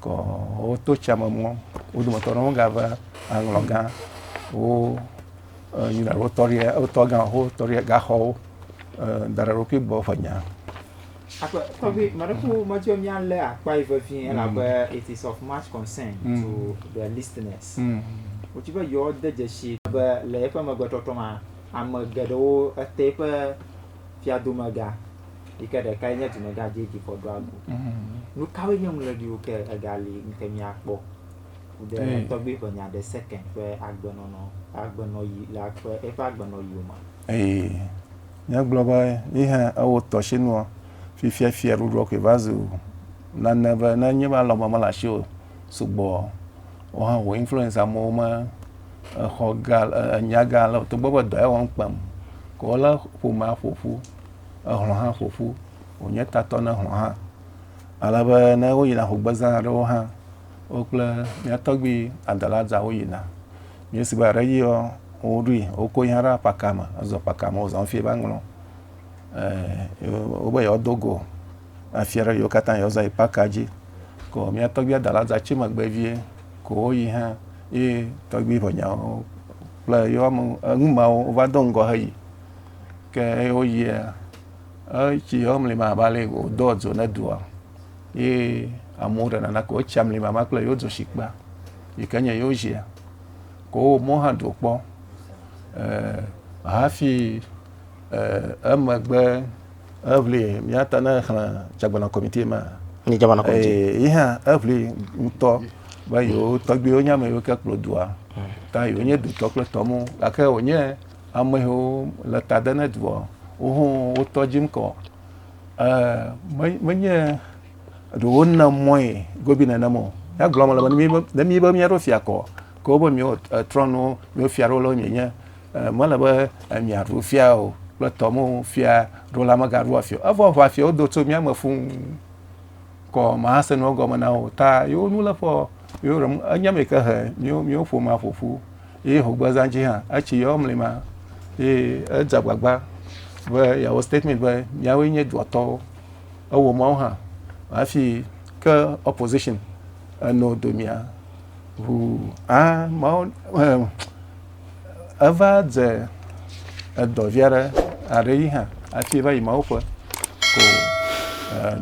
Ke woto tsia me mɔ, wo dometɔ aɖewo gava aŋlɔ gã wo Yuda wo tɔria wo tɔ gã wo tɔria gaxɔwo da ɖe ɖokui gbɔ ƒe nya. Akpa tɔgbi mɔɖeƒo mɔdzi mía lé akpa yi vevie elabe mm. it is of much concern mm. to the listeners. Mm. Wotsi be yewoade dzesi be le eƒe megbetrɔtrɔ ma ame geɖewo ete eƒe fiadumegã yi ke ɖekae nye dumegã dzedzi fɔɖuagu. Mhm. Nu kawoe nye ŋlɔɖiwo ke egali ŋke míakpɔ de eh. tɔgbui ƒe nya ɖe seke ƒe agbenɔnɔ agbenɔyi le akpe eƒe agbenɔyiwo me. Ee, míagblɔ be yi hã ewɔ tɔshinua fifia fiaɖuɖua koe va zu nane be ne nye be alɔme mele asi o. sugbɔ o hã wò influence amewo me exɔ gã enya gã ale o togbɔ be dɔ ya wɔm kpem ke wolé ƒomea ƒoƒu ehlɔ̃ hã ƒoƒu wònye tatɔ na ehlɔ̃ hã ale be ne woyina hogbezã aɖewo hã wo kple mía tɔgbui adalazawo yina míesi be aɖe yiɔ woɖoe woko yi hã ɖe apaka me ezɔ apaka me wozɔ hafi va ŋlɔ eh, wobe yewoado go afia ɖe yewo katã yewoza yi paka dzi ko mía tɔgbia da la za tsi megbe vie ko woyi hã ye tɔgbi ƒe nyawo kple yewo ame enu mawo wova do ŋgɔ heyi ke eye woyia etsi yewo mli ma va le wodɔ dzo ne doa ye amewo ɖe nana ko wotsi amli ma kple yewo dzo shikpa yi ke nye yewo zia ko wo mɔ hã do kpɔ eh, hafi emegbe eʋli míata ne xlẽ dzagbana kɔmiti ma ni dzagbana kɔmiti yi hã eʋli ŋutɔ be yewo tɔgbiwo nye ame yiwo ke kplɔ dua ta yewo nye dutɔ kple tɔmu gake wonye ame yiwo le ta de ne dua wo ho wotɔ dzim kɔ menye ɖe wona mɔe gobi nenem o ya gblɔm le be ne mi be mía ɖo fia kɔ ko be mía trɔnu mía fia ɖo le wo nye nye Mele be emia ɖu fia o kple tɔmo fia ɖo la mega ɖu afia. Evɔ ʋa fia wodo tso mia me fuu. Kɔ ma se no gɔme na o ta yo nu le fɔ yo rem enya me ke he mio mio fo ma fo fu. Ye ho gbe zan ji ha etsi yo mli ma. Ye edza gbagba be ya wo statement be mia wo nye dua tɔwo. Ewo ma wo ha afi ke opposition eno do mia ʋu a ma wo eva dze edɔ vi aɖe aɖe yi hã hafi va yi mawo ƒe ko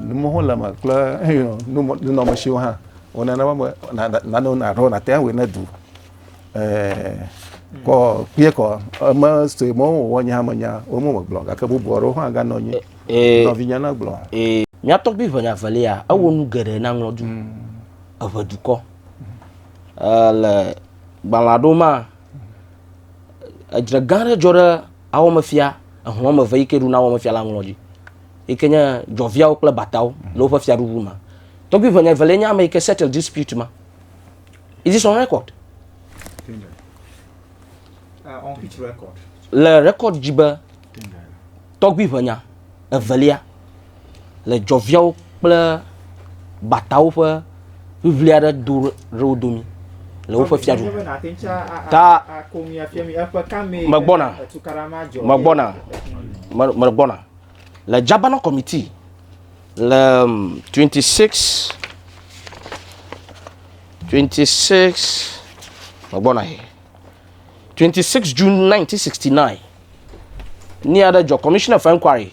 numewo le me kple nunɔmesiwo hã wonana be nanewo naɖɔ nate ŋu awɔe ne du kɔ kpie kɔ eme sue mɔ wowɔ nya me nya wo mo megblɔ gake bubu aɖewo hã ganɔ anyi nɔvinya na gblɔ mía tɔgbi ʋenya velia ewɔ nu geɖe na ŋlɔdu mm. eʋe dukɔ le gbalẽa ɖo ma, edzre gã aɖe dzɔ ɖe awɔmefia, ehlɔ̃ wɔme eve yi ke ɖuna awɔmefia la ŋlɔ dzi, yi ke nye dzɔviawo kple batawo le woƒe fiaɖuɖu me. Tɔgbui ʋɛnya evelia nye ame yi ke settle dispute ma. Is this on record? Uh, on which record? Le record dzi be tɔgbui ʋɛnya evelia le dzɔviawo kple gbatawo ƒe ʋiʋli aɖe do ɖe wo domi le woƒe fiadu ta megbɔna megbɔna megbɔna le Jabana committee le 26 26 megbɔna he 26 June 1969 ni aɖe dzɔ commissioner for inquiry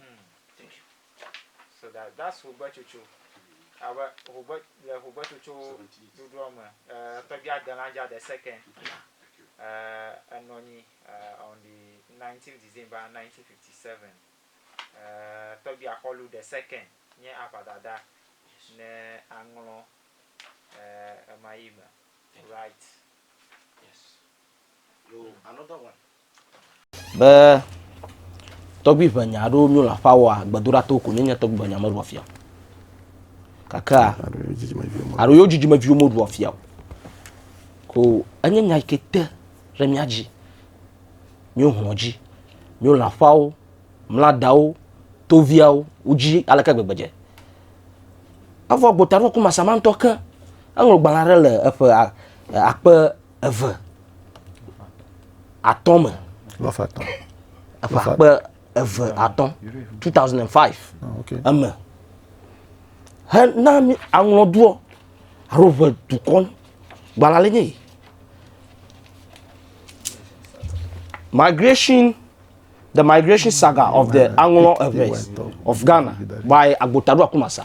Mm, thank you. So that that's hogbetsotso. Abe hogbe le hogbetsotso ɖuɖua me, eh, tɔgbia adelã dza de second. Eh, enɔ anyi eh, on the 19 December 1957. Eh, tɔgbia xɔlu de second nye aʋadada ne aŋlɔ eh, ema yi me. Right. Yes. Be tɔgbui ʋe nya aɖewo mío le aƒea wɔa, gbedoɖa to ko nye tɔgbui ʋe nya meɖua fia. Kakea, alo yewo dzidzimeviwo meɖua fia o. Ko enye nya yi ke te ɖe mía dzi. Mío hlɔ dzi, mío le aƒeawo, mla dawo, toviawo, wo dzi aleke gbegbe dze. Evɔ gbota ɖo ku masamantɔ ke, eŋlɔ gbalẽ aɖe le eƒe akpe eve atɔ̃ me. Lɔfa atɔ̃. Eƒe akpe eve atɔ̃ two thousand and five ah, eme hena mi aŋlɔdoɔ alo ʋe dukɔ gbalẽ le nye yi. Migration The Migration Saga of the Aŋlɔ Eves of Ghana by Agbotado Akumasa.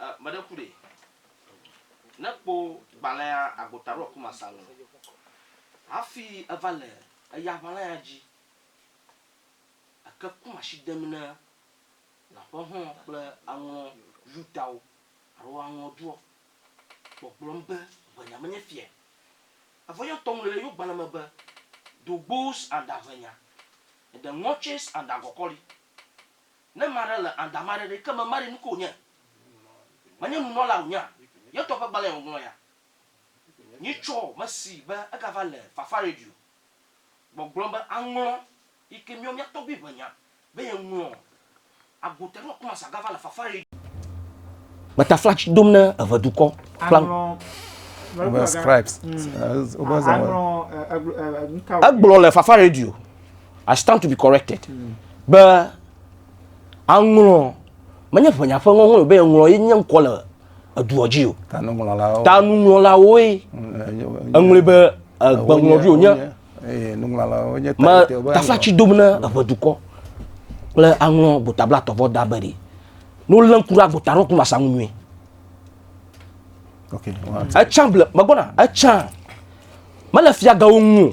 E, meɖe ku ɖe. Ne kpo gbalẽa agota ɖo aku masa nu. Hafi eva le eya ʋalã ya dzi. Eke ku mashi dem ne lãƒe hɔ̃ kple aŋlɔ Yudawo alo aŋlɔ duɔ, gbɔgblɔm be ʋenya menye fia. Evɔ yɔ tɔ ŋlɔe le yo gbalẽ me be, Dogboos aŋda ʋenya, eɖe ŋɔtsees aŋda gɔkɔli. Ne ame aɖe le anda ame aɖe ɖe, ke mema ɖe, nukae wònye? Menye nunɔla wònye a? Yetɔ ƒe gbalẽe wòŋlɔ ya. Nyitsɔ mesi be egava le Fafa Radio gbɔgblɔm be aŋlɔ yike míawo mía tɔgbui ƒe nya be yeŋlɔ Agota ɖo Kumasi agava le Fafa Radio. Meta fla tsi dom ne eve dukɔ kpla. Egblɔ le Fafa Radio I stand to be corrected. Mm. Be aŋlɔ menye ʋenya ƒe ŋɔŋlɔ o be ŋlɔ ye nye ŋkɔ le eduɔ dzi o. Tanuŋlɔlawo. Tanuŋlɔlawoe. Mm, eŋlɔe be egbeŋlɔɖi wonye. Nuŋlɔlawo nye tanutewo be. Tafa tsi dom ne eʋedukɔ kple aŋlɔ gbotabla tɔvɔ da be ɖi. N'o lé ŋku ɖe agbota ɖo kuna sa ŋu nyuie. Etsã ble megbɔna etsã mele fiagawo ŋu o.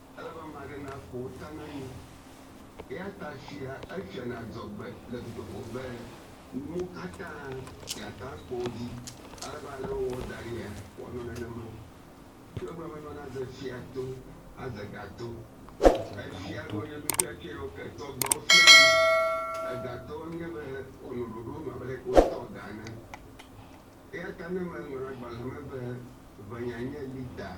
Amama aɖe naƒo ta na mí. Eya ta fia efian adzɔgbe le dutoƒo be nuwo katã yeata akpɔ wo dzi. Ale be ale wòwɔ da ɖia? Wòanɔ nenema. Fiagblɔa menɔna ze fia to aze ga to. Efia ɖoa nye nufiafiawo ke tsɔ dɔwo fianɛ. Egatɔwo nye be wòanɔ ɖoɖo nu abe leke wotɔ ga ene. Eya ta ne meŋlɔ agbalẽ me be Ʋenyanye li ta!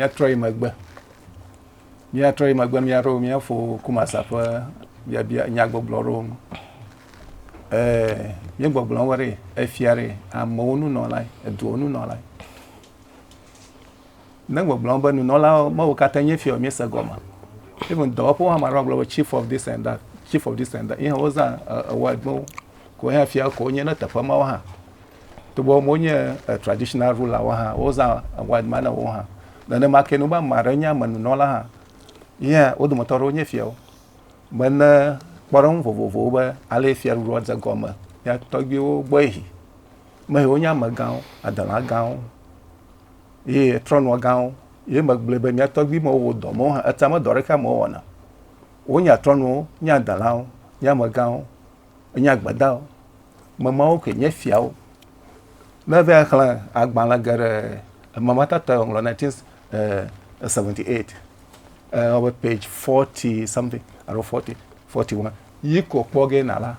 Míatrɔ yi megbe, míatrɔ yi megbe, míaɖo míafo Kumasa ƒe biabia nyagbɔgblɔ ɖo ŋu. Ee, míegbɔgblɔ wɔ ɖe efia ɖe amewo nunɔlae, eduwo nunɔlae. Ne gbɔgblɔm be nunɔlawo me wo katã nye fiawo mi se gɔme. Even dɔwɔƒewo hã maɖo agblɔ be chief of this and that, chief of this and that. Ihe wo zã word no ko hã fia ko nye ne teƒe mawo hã. To bo mo nye traditional ruler wo hã wo zã word ma na wo hã. Ne ne ma ke no ba ma re nya me nunɔla hã. Ihe wo do mo toro nye fiawo. Me ne kpɔrɔ ŋu vovovo wo be ale fia ru ro ze gɔme. Ya tɔgbi wo gbɔ ehi. Me he wo nya me gawo, adala gawo. Ye trɔnua gãwo, ye megblɔe be mia tɔgbui mewo wò dɔ mewo hã, etea me dɔ aɖeke amewo wɔna. Wonye atrɔnuwo, nye adelawo, nye amegãwo, nye agbedawo, me mawo koe nye fiawo. Ne eve axlẽ agbalẽ geɖe eme ma tatɔe wòŋlɔ 1978, ewɔ be page 40 something alo 40, 41 yi ko kpɔ ge na la.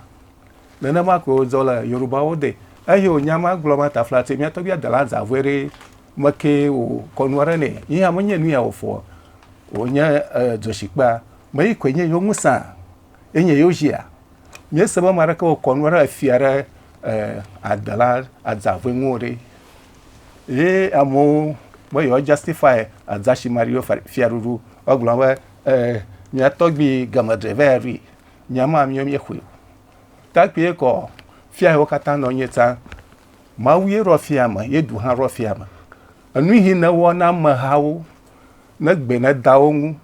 Nenema koe wòzɔ le Yorubawo de eye wònya ma gblɔ ma ta flatse mía tɔgbi adela zã vɔe ɖe me ke wò kɔnu aɖe nɛ yi hã menye nu ya wòfɔ wònye dzoshikpea me yi koe nye yewo ŋusã ye nye yewo zia míese be ma ɖeke wò kɔnu aɖe efia ɖe adela adzã vɔe ŋuwo ɖe ye amewo be yewo justify adza shi mario fiaɖuɖu egblɔ be mía tɔgbi game dreveri Nyama miɔ mi xwe o. Takpie kɔ fia wo katã nɔ nye ta. Mawu ye rɔ fia me, ye du hã rɔ fia me. Enu hi ne wɔ na me ha wo, ne gbe ne da wo ŋu,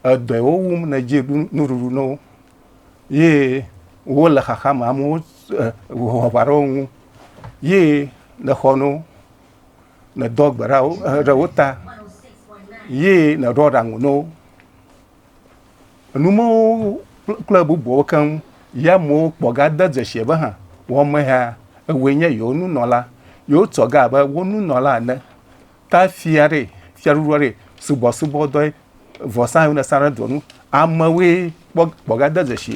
edɔe wo wum ne dzi ɖu nuɖuɖu no wo. Ye wo le xaxa me amewo eh, wɔ va ɖo ŋu. Ye ne xɔ no, ne dɔ gbe ɖa wo, eh, ɖe wo ta. Ye ne ɖɔ ɖa ŋu no wo. Enu mawo kple bubuawo keŋ ya amewo kpɔ gade dzesi be hã wɔmehea ewoe nye yewo nunɔla. Yewotɔ ga abe wo nunɔla ene. Ta fia aɖee, fiaɖuɖu aɖee, subɔsubɔdɔe, vɔsa yiwo nesana ɖe dua nu, amewoe kpɔ gade dzesi.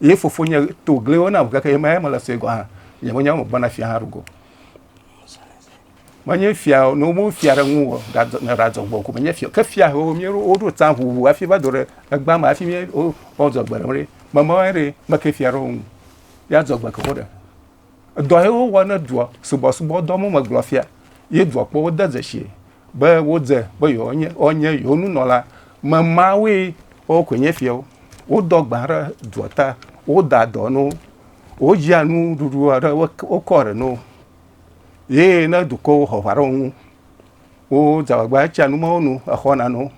Ye fofonye to gliwo nam gake ye maye mele sue gɔ̃ hã. Nye menye wo megblɔna fia hã ɖo go. Menye fia o, ne womewu fia ɖe ŋu o, ɖadzɔ- nye ɖadzɔ gbɔ ko menye fia o. Ke fia hewo mía ɖo- woɖo tsã ʋuʋu hafi va do ɖe egbea me hafi mía- wo- woadzɔ gbe ɖe wo ɖi. Memawoe ɖee, meke fia ɖe wo ŋu. Ye adzɔ gbe ke wo ɖe. Edɔ ye wowɔ ne dua subɔsubɔdɔ mo megblɔ fia ye dua kpɔwo de dzesi be wodze be yewoanye wonye yewo nunɔla me mawoe wowo koe nye fiawo. Wodɔ gbã ɖe dua ta, woda dɔ no, wodzia nuɖuɖu aɖe wokɔ ɖe no ye ne dukɔwo xɔ aʋa ɖe wo ŋu wodze agbagba etsia nu mawo nu exɔna no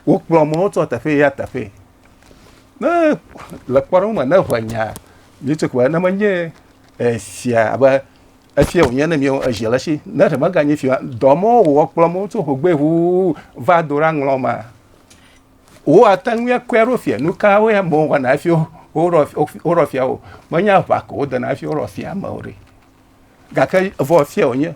wokplɔ mɔwo tso teƒe ya teƒe. ne le kpɔɖeŋu me ne ʋe nya nitso ko ne menye efia abe efia wònye ne míawo ezi le si ne ɖe meganye fia dɔ ma wòwɔ kplɔ mo tso hogbe ʋuu va do ɖa ŋlɔ ma wo ate ŋu akɔe ɖo fia nu kawo ya mo wɔna hafi woɖɔ fia o menye aʋa ko wodena hafi woɖɔ fia ame o ɖe gake vɔ fia wònye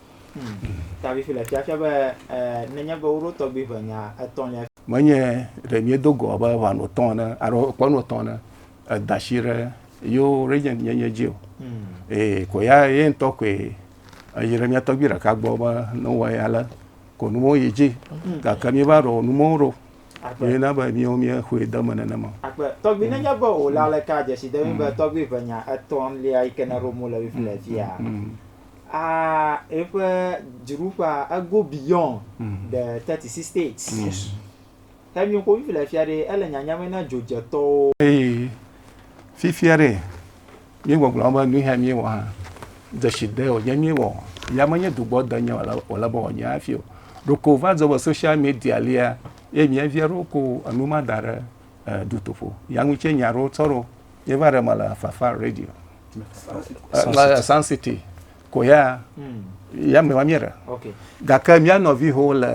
Menye ɖe míedo go abe ʋɔnu etɔ̃ ene alo ƒe nu etɔ̃ ene eda asi ɖe yewo regent nyenye dzi o. Ee, ko ya ye ŋutɔ koe eyi ɖe mía tɔgbui ɖeka gbɔ be ne wowɔ eya ale ko nuwo yi dzi. Gake míeva ɖo numewo ɖo ye na be míwo míexɔe de eme nenema o. uh, eƒe dziɖuƒea ego beyond mm. the 36 states yes. henyo ko fifi le fia ɖe ele nyanyame na dzodzetɔwo hey. fifia ɖe míegbɔgblɔ be nuhɛ míewɔ hã dzesi de wònye míewɔ ya menye dugbɔ de nye wòle be wònye hafi o ɖoko va dzɔ be social media lia ye mievia ɖo ko enu ma da ɖe eh, dutoƒo ya ŋutse nya ɖo tsɔ ɖo yeva ɖe mele fafa radio la Sun City ko ya hmm. ya me wamia ɖe gake mía nɔviwo le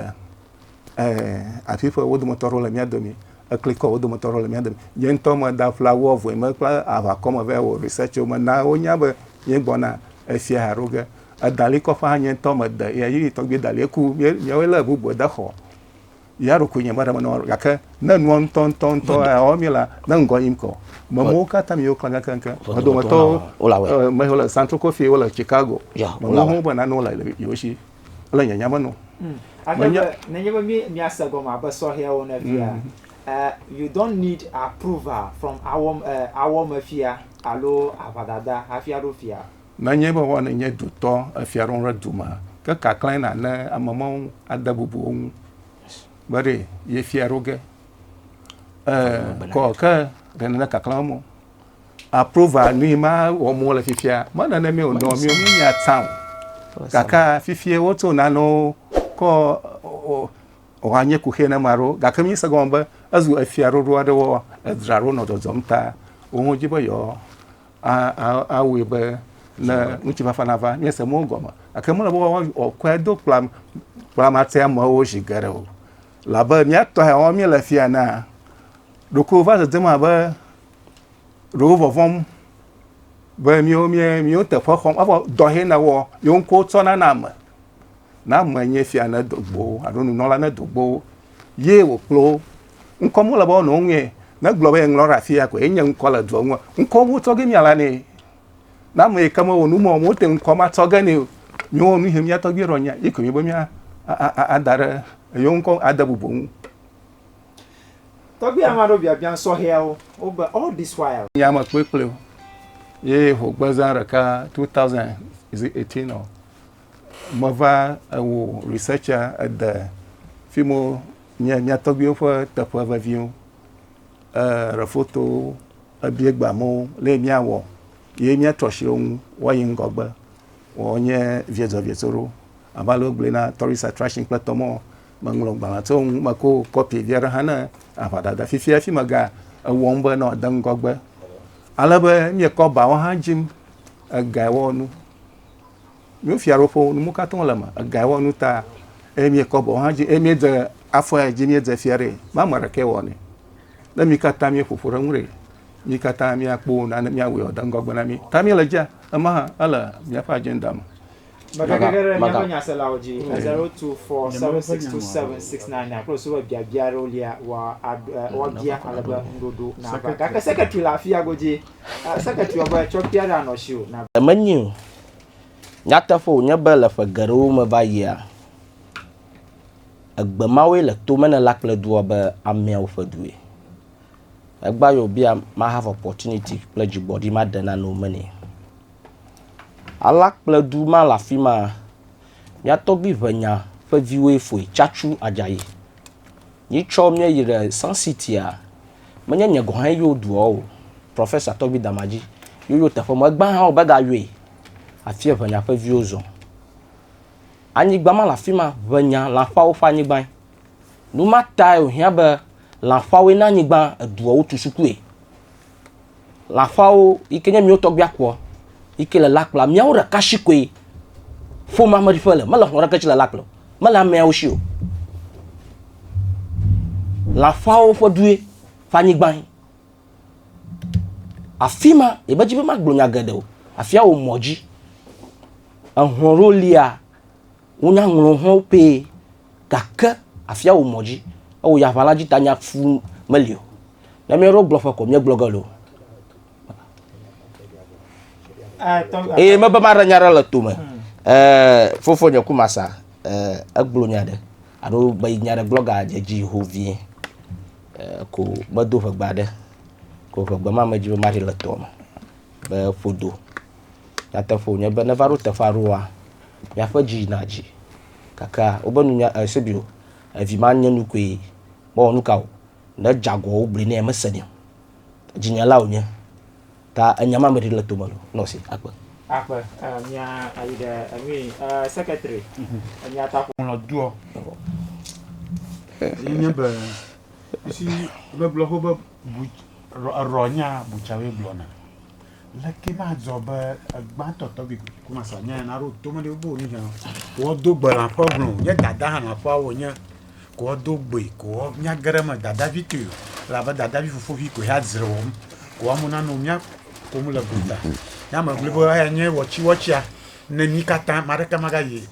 afi ƒe wo dometɔ aɖewo le mía domi eklikɔ wo dometɔ aɖewo le mía domi nye ŋutɔ me da fla wo avɔe me kple aʋakɔ me vɛ wɔ research wo me na wonya be nye gbɔna efia haɖo ge edalikɔ ƒe hã nye ŋutɔ me de ya yi tɔgbi dali eku míawoe lé bubu de xɔ Ya ɖokoe nye meɖe menɔ, gake ne nua ŋutɔ ŋutɔ ŋutɔ ewɔ mi la, ne ŋgɔ yim kɔ. Memowo katã mi wokla kekeŋke. Me dometɔ me wole Santo Kofi, wole Chicago. Memowo ho be nanewo le yewo si. Le nye nya me no. Menye nenye be mi miase gɔme abe sɔhɛawo ene fia, you don't need approval from awɔmefia alo aʋadada hafi aɖo fia. Nenye be wɔ nènye dutɔ le fiaɖuƒe ɖe du me, ke kaklãe nàlé ame mawo ŋu ade bubu wo ŋu be ɖe yefia ɖo ge e kɔ ke ɖe nèle kaklãm mo. Aprova nu yi ma wɔm wole fifia me nenemi o nɔ mi mi nya tsã o. Gake fifia woto nanewo kɔ wɔ nye kuxi ne ma ɖo gake mi se gɔme be ezu efia ɖoɖo aɖe wɔ edzra ɖo nɔ dzɔdzɔm ta wo ŋu dzi be yewoa awɔe be ne ŋutifafa nava míese mɔwo gɔme gake mele be woakɔe do kplam kplamate amewo zi geɖe o labe míatɔ ya wɔm míele fia na ɖoko va dzedzem abe ɖewo vɔvɔm be míwo míe míwo teƒe xɔm evɔ dɔ hɛ na wɔ yewo ŋkɔ tsɔna na ame na ame nye fia ne dogbo alo nunɔla ne dogbo ye wòkplɔ Ŋkɔ mele be wonɔ ŋue. Ne gblɔ be ŋlɔ ɖe afi ya koe nye ŋkɔ le dua ŋu. Ŋkɔ wo tsɔ ge mia la ne. Na ame yi ke me wɔ nu mɔ wote ŋkɔ ma tsɔ ge ne o. Mi wɔ nu he mia tɔgbi ɖɔ nya yi koe nye be mia ada ɖe eyo ŋkɔ ade bubu ŋu. Tɔgbi ama ɖo biabia sɔhɛawo wo be all this while. Nye ame kpekplewo ye ho gbe zã ɖeka 2018 ɔ. Meva wɔ research-a, ede fi mi wo nye mía tɔgbuiwo ƒe teƒe veviwo. Eɖe fotowo, ebia gbe amewo le yi míawɔ ye míatrɔ asi ɖe wo ŋu woayi ŋgɔgbe. Woawo nye viedzɔviedzɔ ɖewo. Abe ale wogblɔe na tourist attraction kple tɔmɔ. Meŋlɔ gbalẽ tso eŋu. Meko kɔpi vi aɖe hã ne aʋadada. Fifia fi mega ewɔm be ne wòade ŋgɔgbe. Ale be míekɔ bawo hã dzim egae wɔ nu. Míwo fiaɖuƒe nu mu katã le me ega wɔ nu ta eye míekɔ bɔ hã dzi eye míedze afɔe dzi míedze fia ɖe ma ame ɖeke wɔ ne ne mi katã míeƒoƒo ɖe ŋu ɖe mi katã míakpɔ nane míawɔe wòde ŋgɔgbe na mi ta míele dze ema hã ele míaƒe agenda me Megegege ɖe míaƒe nyaselawo dzi, eze aɖewo tu for 762769 kple wosube biabia aɖewo lia wɔ woabia ale be ŋuɖoɖo nava. Gake sekretary le afia godzi. Secretary wɔ be tsɔkpia ɖe anɔ asiwò. Menyo Nyateƒe wònye be le ƒe geɖewo me va yia, egbe mawoe le tome ne la kple dua be ameawo ƒe due. Egbea yewo be ma have opportunity kple dzigbɔɖi ma de nane wome nɛ. Ala kple du ma le afi ma, mía tɔgbui ŋenya ƒe viwoe foe, Tsatsu Adjaye. Míetsɔ mía yi ɖe Sun City-a, menye nye gɔ̃ hã yɔ dua o, Professor Toby Damaji ye yɔ teƒe ma. Egbea hã womegayɔe. Afie ʋenya ƒe viwo zɔ. Anyigba ma le afi ma, ʋenya, lãkpawo ƒe anyigbae. Nu ma tae wòhiã be lãkpawoe na anyigba eduawo tu sukue. lãfawo yi ke nye mìwo tɔgbuia kpɔ yi ke le la kplɔ ameawo ɖeka si koe ƒomea me ɖi ƒe le. Mele xɔlɔ̃ aɖeke si le la kplɔ o. Mele ameawo si o. Lãfawo ƒe due ƒe anyigbae. Afi ma, yemedi be magblɔ nya geɖe o. Afia wò mɔ dzi. Ehlɔ̃ ɖewo lia, wonya ŋlɔŋlɔwo pɛ. Gake afia wò mɔ dzi. Ewò ya aʋala dzi ta nya fu meli o. Ne mía ɖewo gblɔ ƒe ko, míegblɔ ge loo. Eye mebe maɖe nya ɖe le to me. Fofo nye ku masa egblɔ nya ɖe alo be nya ɖe gblɔ ga dze dzi ho vie ko medo ʋegba ɖe ko ʋegba ma me dzi be maɖi le tɔ me be ƒodo. Nyateƒo nye be ne va ɖo teƒe aɖewoa, miaƒe dzi yina dzi. Gake wobe nunya Eusebio, evi ma nye nu koe. Mewɔ nuka o, ne edze agɔ wogblɔe nɛ mesenɛ o. Dzinyela wònye. Ta enya ma meɖi le tome o. Nɔ si, akpe. Akpe. Mía ayi ɖe enui eh secretary mía ta ƒo. Ŋlɔ doɔ. Ye nye be esi be gblɔ xobe bu erɔ nya butcher woe gblɔ na. Leke madzɔ be gbãtɔ tɔgbi kumasa nya na ro to mele bo ni hã ko do gbe la ƒe glo nye dada hã la ƒe wo nye ko do gbe ko nya gere me dada vi to la be dada vi fofo vi ko ya zre wo ko amu na no nya ko mu le gota ya me gbe bo ya nye wɔchi wɔchia ne mi kata ma ɖeka ma ga yi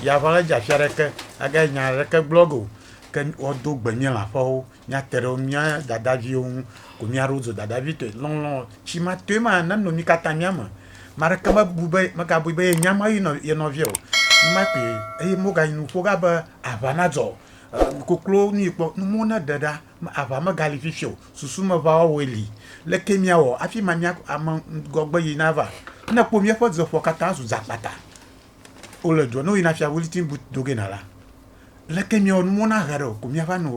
ya va ga ja fia ɖeke aga nya ɖeke blogo ke wo do gbe nye la ƒe wo míate ɖe mía dadaviwo ŋu ko mía ɖewo zu dadavi tɔe. Lɔlɔ tsi ma tɔe ma ne nɔ mí katã mía me. Ame aɖeke mebu be megabui be yenya Mawu yi nɔ ye nɔvia o. Numa koe eye megayi nu ƒo ɖa be aʋa nadzɔ o. E koklo nu yi kpɔ nu ne ɖe ɖa aʋa megali fifi o. Susu me ʋa wɔwɔe li. Leke miawɔ hafi ma mia ame ŋgɔgbe yi nava? Ne ekpɔ míaƒe dzeƒua katã zu dzakpata wole dua ne woyina fia wuliti bu do ge na la. Leke miɔ nu mɔna hɛ ɖe o ko miava nɔ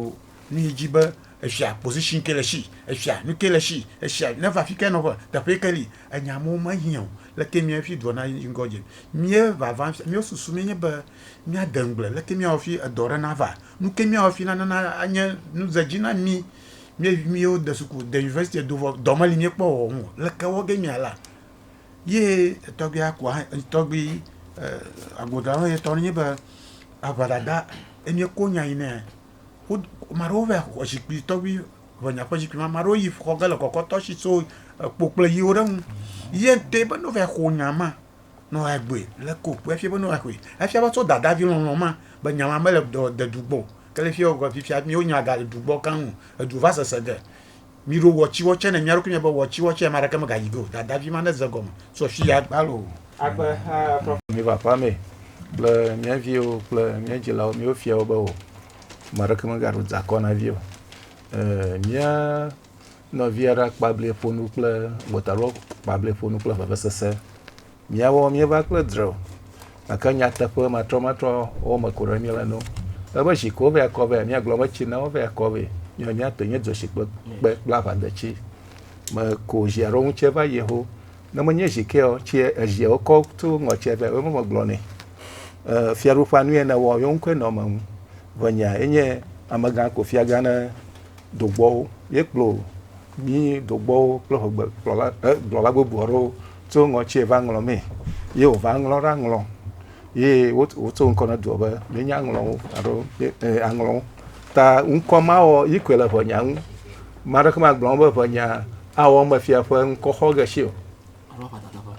nu yi ji be efia position ke le shi, efia nu ke le shi, efia neva fi ke nɔƒe, teƒe ke li. Enya mɔwo me hiã o. Leke miɔ fi dɔ na yi ŋgɔ dzi. Mía vava fia mía susu mi nye be mía de ŋgble leke miawɔ fi edɔ ɖe na va. Nu ke miawɔ fi na nana anye nu ze dzi na mi. Mía vi miwo de suku, de university do vɔ dɔ me li mía kpɔ wɔwɔ mɔ leke wɔ ge mía la. ye etɔgbuia kua etɔgbui e agboa me tɔ nye be aʋa dada eye ko nya yi nɛ wo ame aɖewo va xɔ zikpui tɔgbi ʋɔnya ƒe zikpui ame aɖewo yi xɔ ge le kɔkɔtɔ si so ekpo kple yiwo ɖe eŋu ye ŋutɔe be ne wova xɔ nya ma ne woa gbɔe le ko kpoe efia be ne woa xɔe efia be tso dadavi lɔlɔ ma be nya ma mele dɔ dedu gbɔ o ke le fiya fifia mía nya gale du gbɔ keŋ o edu va sese ge. Miɖo wɔtsiwɔ tsɛ ne mía ɖokui mía be wɔtsiwɔ tsɛ ame aɖeke megayi ɖo. Dada vi ma neze egɔme so afi ya gbalo o. Agbe ha fafɛ. Miva aƒea me kple mía viwo kple mía dzilawo míwo fia wo be o. Ame aɖeke megaɖo dzeakɔ na vi o. Ee, mía nɔvia ɖe akpablie ƒo nu kple gbɔtaɖo kpablie ƒo nu kple vevesese. Míawo míeva kple dre o, gake nyateƒe matrɔmatrɔ wɔme ko ɖe míele no. Ebe zi ko vɛ akɔ vɛ, míagblɔ be tsi na wo vɛ akɔ vɛ. Míawo míate nye dzoshikpe kpe kple aʋadetsi me ko zi alo ŋutsie va yi ho. Ne menye zi kea, tsie ezia wokɔ to ŋɔtsie vɛ wo me megblɔ nɛ. E, fiaɖuƒea nu ye ne wɔ, yewo ŋkɔe nɔ me ŋu. Ʋenya enye amegã ko fiagã ne dogbɔwo. Ye kplɔ Mí dogbɔwo kple ŋugbe gblɔla e gblɔla gbogbo aɖewo tso ŋɔtsie va ŋlɔ mee ye wo va ŋlɔ ɖa ŋlɔ ye wo wo tso ŋkɔ ne doɔ be mí nya ŋlɔ ŋu aɖo ye e a ŋlɔ ŋu ta ŋkɔ ma wɔ yi koe le ŋɔnya ŋu ma ɖe ke ma gblɔ be ŋɔnya a wɔ me fia ƒe ŋkɔ xɔ ge si o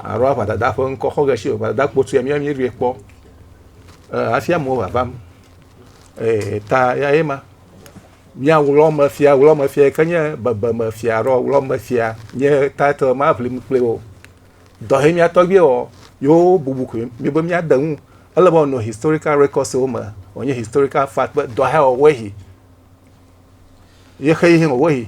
alo aʋa dada ƒe ŋkɔ xɔ ge si o ʋa dada kpo tsoe mía mí ɖoe kpɔ e hafi amewo va vam e ta ya ye ma. Mía ɣlɔmefia, ɣlɔmefia yi ke nye bebemefia ɖo, ɣlɔmefia nye title ma ʋlim kpli wo. Dɔ he mía tɔgbi wɔ, yewo bubu koe mi be mía de ŋu. Ele be wònɔ historical records wo me, wònye historical fact be dɔ he wɔ woe hi. Ye xe yi he wɔ woe hi.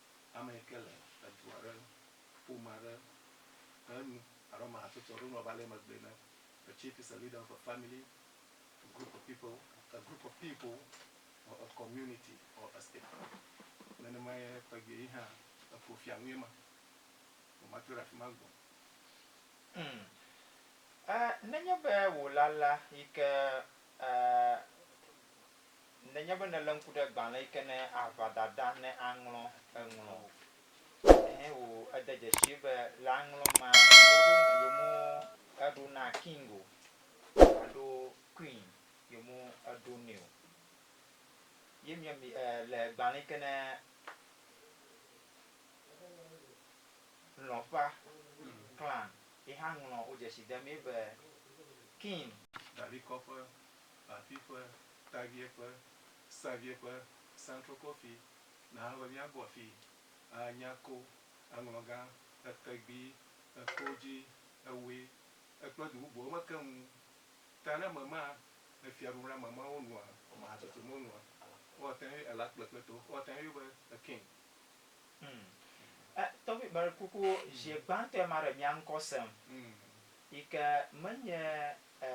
Ame yi ke le edu aɖe, ƒome aɖe ƒe nu alo ame hatsotso aɖe nu ava le emegbe ne, A chief is a leader of a family, a group of people, a group of people or a community or a state. Nenemae tɔgbi yi hã eƒo fia nue ma. Vɔ matrɔ ɖe afi ma gbɔ. Ŋ, e, nenye be wòle alea yi ke, e, Nenye be nèlé ŋku ɖe gbalẽ yi ke ne aʋa dada ne aŋlɔ eŋlɔ o, ɛhɛ o, ede dzesii be le aŋlɔ mea, woɖo na, yewome eɖo na King o alo Queen, yewome eɖo nɛ o. Ye mía mi e le gbalẽ yi ke ne Lɔ̃ƒea Clan ye hã ŋlɔ, wodzesi demee be King. David Kɔƒe afi ƒe taviɛ ƒe saviɛ ƒe santrokɔ fi na ebe míagbɔ afi a nya ko eŋlɔ gã etegbi eko dzi ewoe ekple du bubuwo me keŋ ŋu ta ne ame ma efia ɖum ɖe ame ma wo nua ame hatsotso me wo nua wo ate ŋu ela kple kple to wo ate ŋu be ekeŋ. Hum e tɔvi bari kuku zie gbãtɔe ma ɖe mia ŋkɔ sem yi ke menye E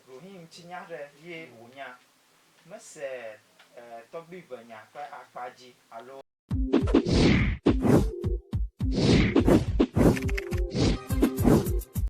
ɖoŋi ŋuti nya ɖe ye wò nya. Me se e tɔgbui ve nya ƒe akpa dzi alo.